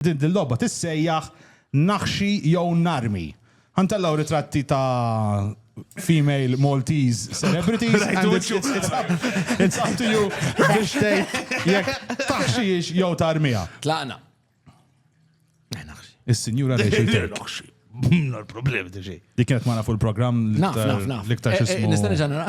Din dil-logħba tissejjaħ Naħxi jew Narmi. Ħa ntellgħu ritratti ta' female Maltese celebrities and it's up to you biex tgħid jekk taħxihiex jew tarmiha. Tlaqna. Is-Sinjura Rachel Turk. Bimna l-problem diġi. Dik kienet magħna fuq il-programm Naf, naf, naf. l-iktar Eh, eh, xismu. Nista' nerġa' nara.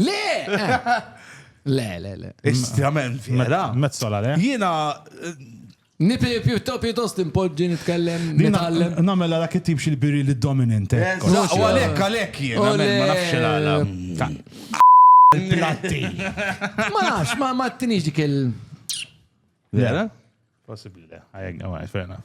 Le! Le, le, le. Estrament vera. Mezzola, le? Jiena Nipi pjutto pjuttost impoġġi nitkellem nitgħallem. Namela dak it-tip xi biri li dominant. hekk. Eżatt, u għalhekk għalhekk jien, Ole. għalhekk ma nafx il-għala. Platti. Ma nafx, ma ma tinix dik il. Vera? Possibli le. Għajek, għajek, fair enough.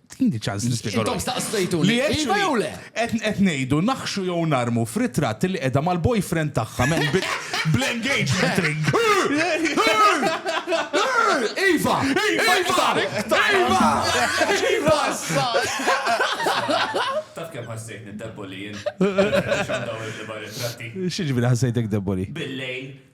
Tini ċans nispjegaw. Intom staqsejtu li iva jew le? Qed ngħidu naħxu jew narmu f'ritratt li qiegħda mal-boyfriend tagħha men bl-engagement ring. Iva! Iva! Iva! Iva! Taf kemm ħassejt niddeboli jien. X'għandha ritratti? X'ġifieri ħassejtek deboli? Billejl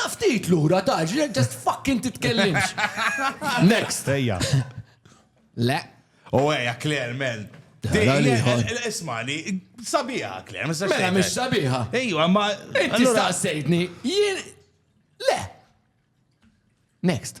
Naf ftit lura taġ, just fucking titkellimx. Next. Ejja. Le. U ejja, Claire, men. Ismani, sabiħa, Claire, mistax. Mela, mish sabiħa. Ejja, ma. Inti staqsejtni, jien. Le. Next.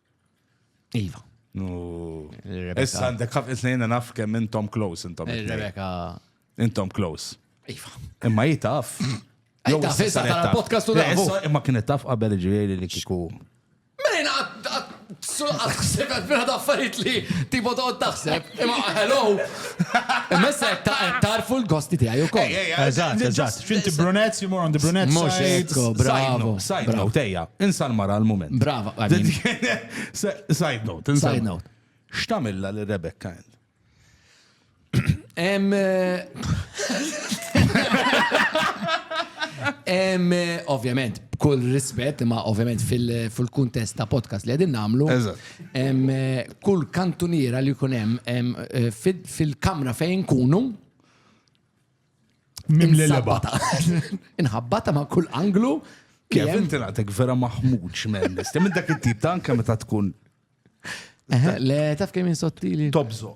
Iva. Issa għandek ħafna snejna naf kemm intom close intom. Eh, Rebecca. Intom close. Iva. Imma jitaf. Jitaf, issa tara podcast u dafu. Imma kienet taf qabel ġveri li kiku. Mela taħseb għal affarijiet li tipo toqgħod taħseb. Imma hello, Imma issa qed ta- qed tagħrfu l-gosti tiegħi wkoll. Ej, ej, ej, Eżatt, just- eżatt. X'inti brunettes, you're more on the brunette Mhux side. hekk. Ecco, Side bravo, note, side bravo. note, ejja, insa l-mara għal-moment. Brava, I mean- Side note, insa. Side note. X'tamilla li Rebecca int? Em, eh, em, eh, ovvjament, b'kull rispett, ma ovvjament fil- fil-kuntest ta' podcast li għedin namlu, Eżatt. kull kantuniera li jkun hemm fil-kamra fejn kunu Mimlelebata. Inħabbata ma' kull anglu. Kif inti naqtek vera maħmuġ minn nistem minn dak it-tip ta' anke meta tkun. Le, taf kemm sottili. Tobżo.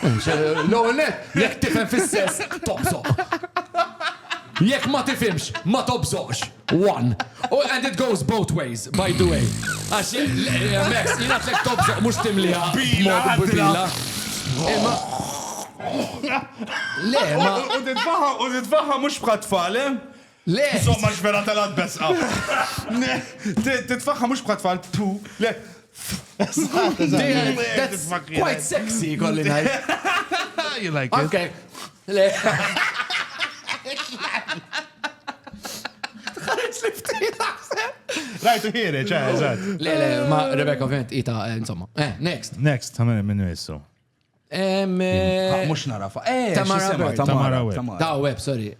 L-ewwel net, jekk tifhem fis-sess, tobżoq. Jekk ma tifhimx, ma tobżoqx. One. Oh, and it goes both ways, by the way. Għax, Max, jina tlek tobżoq mux timlija. Bila, bila. Imma. Le, ma. U titfaħa, u titfaħa mux bħat fale. Eh? Le! Insomma xbela telgħet beżqa. Le! Titfakha mhux bħat tfal ptu. Le! That's quite sexy, kolli ngħid. You like it? Okay. Le. Tħarġ li ftit taħseb. Rajtu ħiri, ċe, eżatt. Le, le, ma Rebecca ovvjament ita, insomma. Eh, next. Next, ta' minn minnu jissu. Mux narafa. Eh, Tamara Web. Tamara Web. Tamara Web, sorry.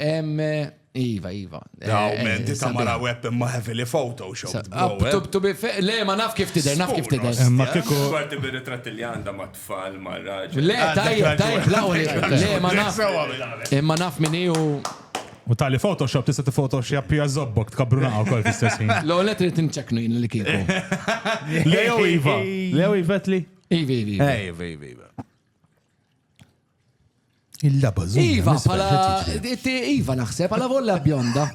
Iva, Iva. Daw, eh, eh, menti ta' mara web imma heavily photoshop. Eh. Le, ma naf kif tider, naf kif tider. Ma kiku. Għarti bi ritrat li għanda ma tfal, ma raġel. Le, ah, tajjeb, tajjeb, lawli. Le, ma naf. Imma naf minni u. U tali Photoshop tista' tifotoshopp hija zobbok tkabru naqgħu kol fl-istess ħin. L-għolet trid inċeknu jien li kieku. Leo Iva. Leo Ivetli. Iva, iva, iva. Eh, iva, iva, iva. Il-laba zumba. Iva, pala. Iva naħseb, pala volla bjonda.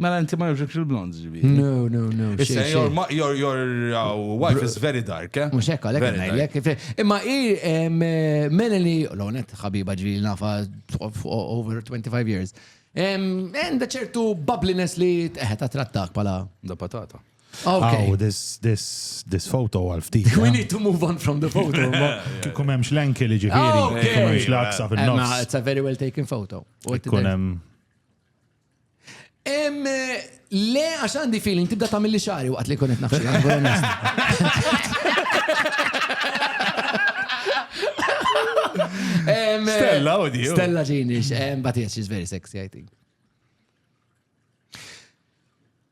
Mela inti ma jibxekx il-blond ġibi. No, no, no. Issa, your, your, your uh, wife is very dark, eh? Mux ekka, lek najlek. Imma i eh, Melanie, l-onet, ħabiba ġibi nafa over 25 years. Enda ċertu bubbliness li teħet trattak pala. Da patata. Okay. Oh, this, this, this photo għal ftit. We need to move on from the photo. Kum hemmx l-enki li ġifieri, oh, kum hemmx l-aksa fin-nofs. It's a very well taken photo. Kun hemm. Le, għax għandi feeling tibda ta' mill xari waqt li kunet nafxie. Stella, oddio. Stella Genish, but yes, she's very sexy, I think.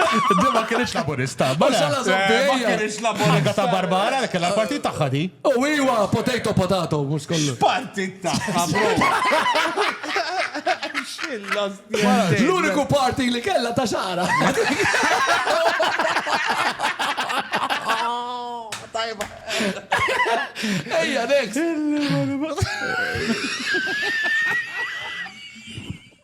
Di ma kienx laburista. Ma xalla zombija. Kienx laburista. Ħaga ta' Barbara li kellha l-partit tagħha di. U iwa, potato potato, mhux kollu. Partit tagħha, bro. L-uniku parti li kellha ta' xara. Tajba. Ejja, next.